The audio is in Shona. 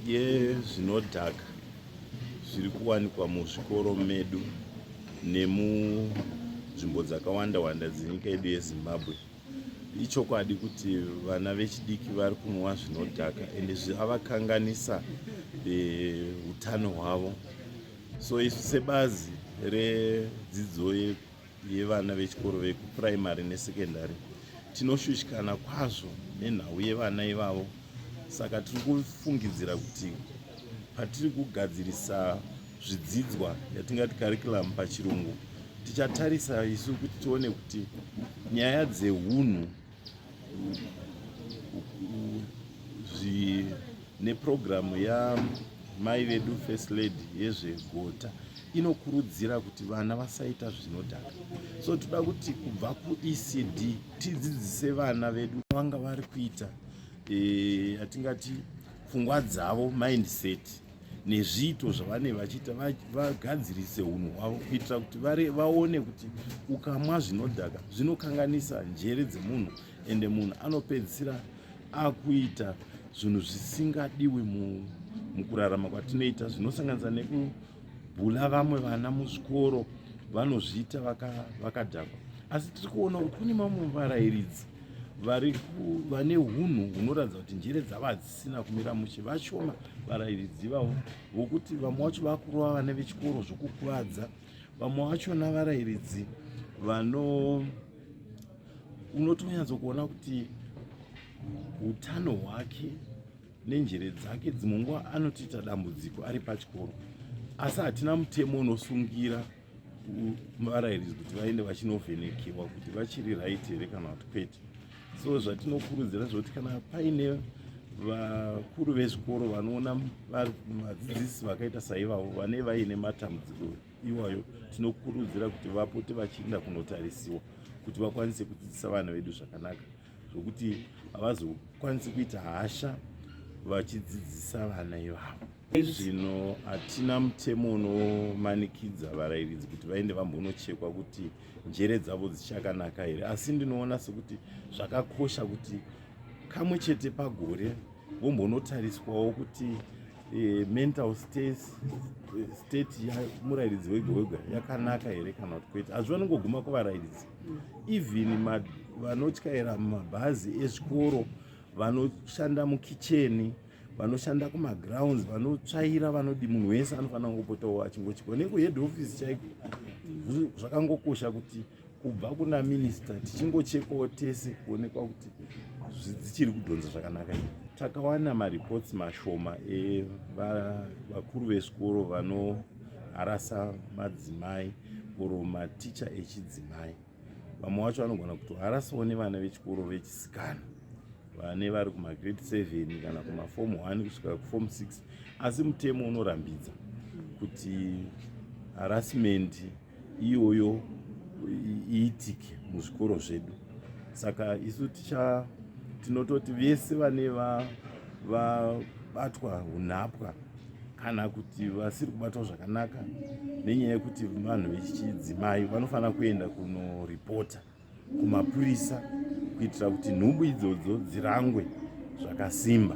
yezvinodhaka zviri kuwanikwa muzvikoro medu nemunzvimbo dzakawanda wanda dzenyika yedu yezimbabwe ichokwadi kuti vana vechidiki vari kunwa zvinodhaka ende zvavakanganisa eh, utano hwavo so isu sebazi redzidzo yevana vechikoro vekupuraimari nesekendari tinoshushikana kwazvo nenhau yevana ivavo saka tiri kufungidzira kuti patiri kugadzirisa zvidzidzwa yatingati curriculum pachirungu tichatarisa isu kuti tione kuti nyaya dzeunhu nepurogiramu yamai vedu first lady yezvegota inokurudzira kuti vana vasaita zvinodhaka so toda kuti kubva kuecd tidzidzise vana vedu vanga vari kuita eh, yatingati e, pfungwa dzavo mindset nezviito zvavanenge vachiita vagadzirise unhu hwavo kuitira kuti vaone kuti ukamwa zvinodhaka zvinokanganisa njere dzemunhu ende munhu anopedzisira akuita zvinhu zvisingadiwi mukurarama kwatinoita zvinosanganisa nekubhula vamwe vana muzvikoro vanozviita vakadhakwa asi tiri kuona kuti kune mamwe varairidzi vane unhu hunoratidza kuti njere dzavadzi sina kumira mushe vashoma varairidzi vavo vokuti vamwe vacho vakurova vane vechikoro zvokukuvadza vamwe vachona varairidzi vano unotonyatso kuona kuti utano hwake nenjere dzake dzimwe nguva anotiita dambudziko ari pachikoro asi hatina mutemo unosungira varairidzi kuti vaende vachinovhenekewa kuti vachiri right here kana kuti kwete so zvatinokurudzira zvekuti kana paine vakuru vezvikoro vanoona vadzidzisi vakaita saivavo vane vaine matambudziko iwayo tinokurudzira kuti vapote vachiinda kunotarisiwa kuti vakwanise kudzidzisa vana vedu zvakanaka zvokuti havazokwanisi kuita hasha vachidzidzisa vana ivavo Izvino hatina mutemo unomanikidza varairidzi kuti vaende vambonochekwa kuti njere dzavo dzichakanaka here asi ndinoona sekuti zvakakosha kuti kamwe chete pagore vombonotariswawo kuti eh, mental state, eh, state yamurairidzi wega wega yakanaka here kana kuti kwete hazvi vanongoguma kuvarairidzi even vanotyaira mabhazi ezvikoro vanoshanda mukicheni vanoshanda kumagrounds vanotsvaira vanodi munhu wese anofanira kungopotawo achingochikwa nekuhead office chaiko zvakangokosha kuti kubva kuna minister tichingochekawo tese kuonekwa kuti dzichiri kudhonza zvakanaka i takawana mareports mashoma evakuru vesikoro vanoharasa madzimai or maticha echidzimai vamwe wacho vanogona kuti harasawo nevana vechikoro vechisikana vane vari kumagrade 7 kana kumafom 1 kusvika kufom 6 asi mutemo unorambidza kuti harassment iyoyo iitike muzvikoro zvedu saka isu ticha tinototi vese vane vabatwa va, unhapwa kana kuti vasiri kubatwa zvakanaka nenyaya yekuti vanhu vechichidzimai vanofanira kuenda kunoripota kumapurisa kuitira kuti nhumbu idzodzo dzirangwe zvakasimba